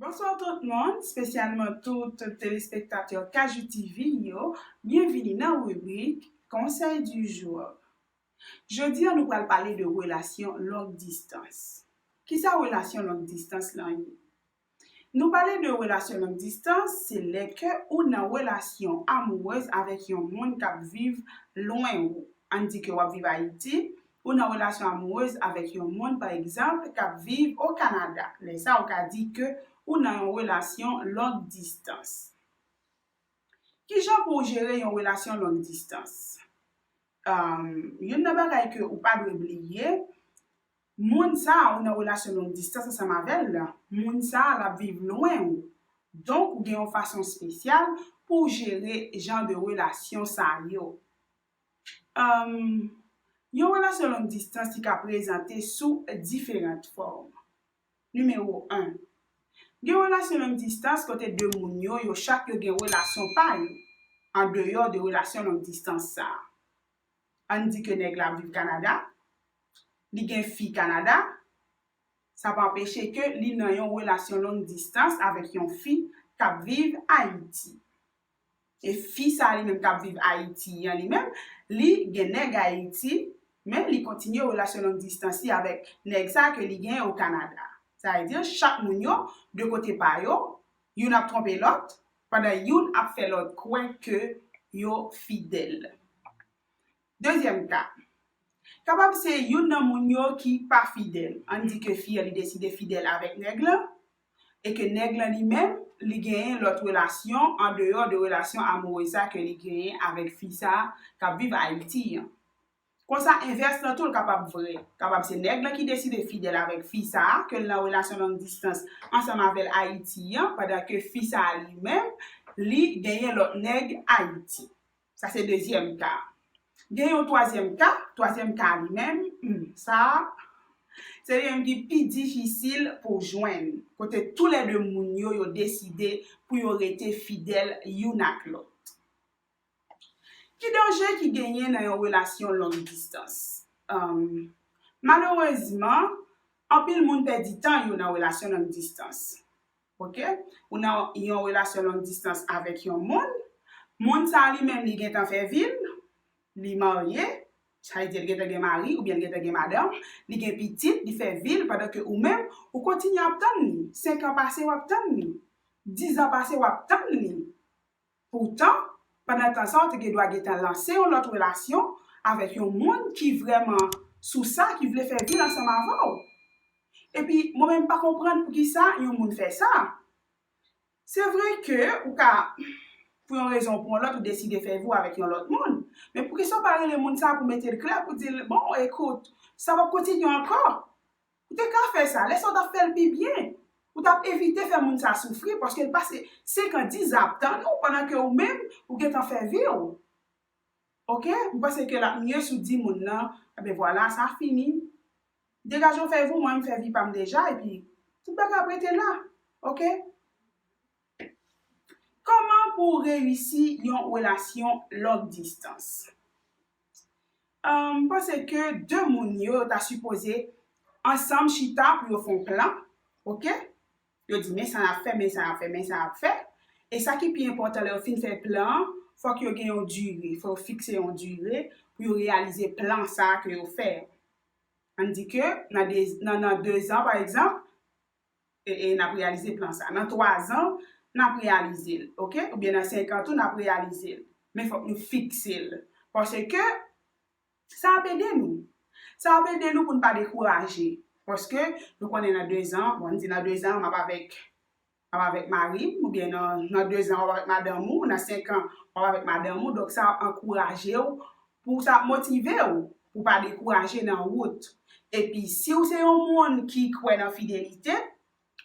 Bonsoir tout moun, spesyalman tout telespektatè KJTV yo, byenvini nan ribrik Conseil du jour. Jodi an nou pral pale de relasyon long distans. Kisa relasyon long distans lan ye? Nou pale de relasyon long distans, se lè ke ou nan relasyon amourez avèk yon moun kap viv lwen ou. Ann di ke wap viv Ayiti, ou nan relasyon amourez avèk yon moun pa egzanp kap viv o Kanada. Lè sa ou ka di ke ou nan yon relasyon long distans. Kijan pou ou jere yon relasyon long distans? Youn nan bagay ke ou pa dwe bliye, Moun sa ou nan relasyon long distans ansanm avèl la, moun sa lap viv lwen ou. Donk ou gen yon fason spesyal pouw jere jan de relasyon sa yo. Humm yon relasyon long distans li ka prezante sou diferant fòm. Nimewo 1, Gen relasyon long distans kote 2 moun yo, yo chak yo gen relasyon pa yo, andeyò de relasyon long distans sa. Ann di ke nèg la ap viv Kanada, li gen fi Kanada, sa pa anpeche ke li nan yon relasyon long distans avèk yon fi k ap viv Ayiti. E fi sa li menm k ap viv Ayiti an li menm, li gen nèg Ayiti, men li kontinye relasyon long distans li avèk nèg sa ke li gen o Kanada. Sa vle di chak moun yo, de kote pa yo, youn ap twonpe lòt, Pandan youn ap fè lòt kwè ke yo fidèl. Dezyèm ka. Kapab se youn nan moun yo ki pa fidèl. Ann di ke fi an li deside fidèl avèk nèg lan, e ke nèg lan li menm, li genyen lòt relasyon an deyò de relasyon amourez sa ke li genyen avèk fi sa kap viv Ayiti an. Konsa envès lan tou l kapab vrè. Kapab se nèg lan ki deside fidèl avèk fi sa a ke l nan relasyon long distans ansanm avè l Ayiti an pandan ke fi sa a li menm li genyen lòt nèg Ayiti. Sa se dezyèm ka a. Gen yon twazyèm ka, twazyèm ka a li menm, humm sa a se li menm ki pi difisil pou w jwenn, kote tou lè de moun yo yo deside pou yo rete fidèl youn ak lòt. Ki danje ki genyen nan yon relasyon long distans? Malerezman, anpil moun pèdi tan yo nan relasyon long distans. Ok, ou nan yon relasyon long distans avèk yon moun, moun sa a li menm li gentan fè vi l, li marye, sa vle di l gentan gen mari oubyen l gentan gen madanm, li gen pitit, li fè vi l pandan ke ou menm ou kontinye ap tann li. Senkan pase w ap tann li, dizan pase w ap tann li. Poutan, pandan tan sa w te gendwa gentan lanse yon lòt relasyon avèk yon moun ki vrèman sou sa, ki vle fè vil ansanm avè w. Epi, mwen menm m pa konprann poukisa yon moun fè sa. Se vre ke ou ka, pou yon rezon ou pou yon lòt, ou deside fè vi w avèk yon lòt moun. Men poukisa w pa rele moun sa pou mete l klè, pou di l, bon, ekout, sa p ap kontinye ankò. Ou te ka fè sa. Lè sa ou t ap fè l pi byen. Ou t ap evite fè moun sa soufri paske l pase 5 an, 10 an ap tann ou pandan ke ou menm ou gentan fè vi ou. Ok? M panse ke l ap mye si w di moun nan, Enben vwala, sa fini. Degaje w fè vi w, mwen menm m fè vi pa m deja epi tout bagay ap rete la. Ok? Kòman pou w reyisi yon relasyon long distans? M panse ke 2 moun yo ta sipoze ansanm chita pou yo fè yon plan, ok, yo di men sa n ap fè, men sa n ap fè, men sa n ap fè, e sa ki pi enpòtan lè yo fin fè plan an, fòk yo gen yon dire, fòk yo fikse yon dire pou yo reyalize plan sa a ke yo fè. An n di ke nan 2 zan pa egzanp, n ap reyalize plan sa. Nan 3 zan, n ap reyalize l. Ok? Oubyen nan 5 an tou n ap reyalize l. Men fòk nou fikse l. Paske, sa ap ede nou. Sa ap ede nou pou n pa dekouraje. Paske, nou konnen nan 2 zan, bon, n di nan 2 zan m ap avèk mari m, oubyen nan 2 zan w ap avèk madanm ou, nan 5 an, w ap avèk madanm ou. Donk, sa ap ankouraje ou pou sa ap motive w pou pa dekouraje nan wout. Epi, si w se yon moun ki kwè nan fidelite,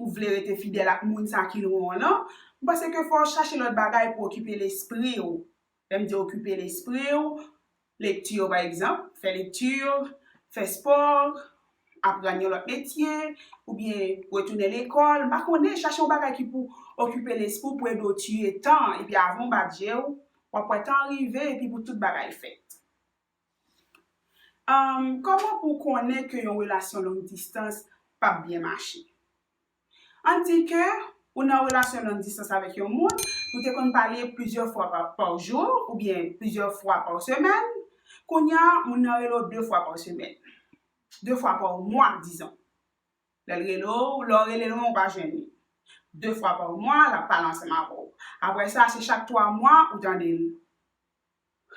ou vle rete fidèl ak moun sa ki lwen w lan, m panse ke fò w chache lòt bagay pou okipe lespri w. Lè m di okipe lespri w, lekti yo pa egzanp, fè lekti, fè spò, aprann yon lòt metye, oubyen retounen lekòl, m pa konnen, chache yon bagay ki pou okipe lespri w pou ede w tiye tan an, epi avan w bat je w, w ap wè tan an rive epi pou tout bagay fèt. Kòman pou w konnen ke yon relasyon long distans p ap byen mache? An di ke ou nan relasyon long distans avèk yon moun, nou te konn pale plizyè fwa pa jou oubyen plizyè fwa pa semèn, kounye a moun nan rele w 2 fwa pa semèn, 2 fwa pa mwa dizon. Lè l rele w, lè w rele l ou pa jwenn li. 2 fwa pa mwa l ap pale ansanm avè w. Aprè sa se chak 3 mwa ou tande l.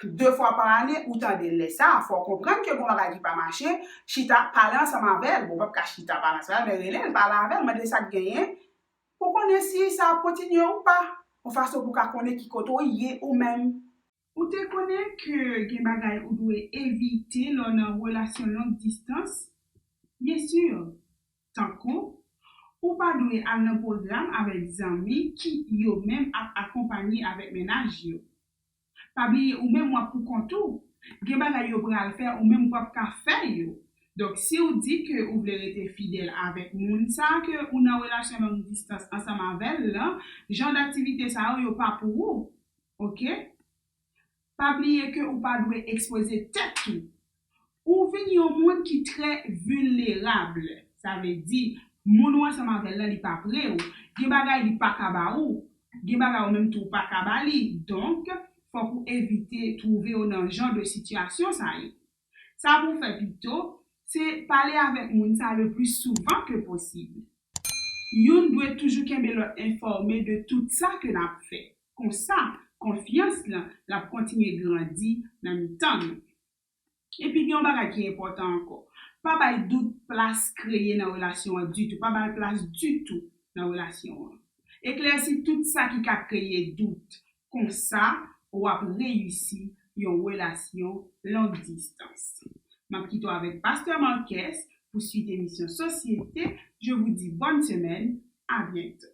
2 fwa pa ane ou tandel lè sa a fòw konprann ke gon bagay ki pa mache chita pale ansanm avèl bon pap ka chita pale ansanm avèl men relel pale avèl mandel sak genyen pou konnen si sa ap kontinye ou pa yon fason pou ka konnen ki kote ou ye ou menm. Ou te konnen ke gen bagay ou dwe evite lè w nan relasyon long distans? Byen sur! Tankou, Ou pa dwe al nan pwogram avèk zanmi ki, yo menm, ap akonpanye avèk mennaj yo. Pa bliye ou menm w ap pou kont ou. Gen bagay yo pral fè ou menm pap ka fè yo. Donk, si ou di ke ou vle rete fidèl avèk moun sa a ke ou nan relasyon long distans ansanm avè l lan, jan daktivite sa yo, yo pa pou ou. Ok. Pa bliye ke ou pa dwe ekspoze tèt ou. Ou vin yon moun ki trè vilnerab. Sa vle di, moun ou ansanm avè l lan li pa pre ou. Gen bagay li pa ka ba ou. Gen bagay ou menm tou ou pa ka ba li. Donk, fòk ou evite twouve ou nan jan de sitiyasyon sa yo. Sa pou w fè pito, se pale avèk moun sa lepli souvan ke posib. Youn dwe toujou kenbe lòt enfòme de tout sa ke n ap fè. Konsa, konfyans lan l ap kontinye grandi nan mitan nou. Epi gen yon bagay ki enpòtan ankò, pa bay dout plas kreye nan relasyon an ditou, pa ba l plas ditou nan relasyon an. Eklèsi tout sa ki ka kreye dout, Konsa w ap reyisi yon relasyon long distans. M ap kite w avèk Pastè Marques pou swit emisyon Sosyete, je vous dis bonne semaine, à bientôt.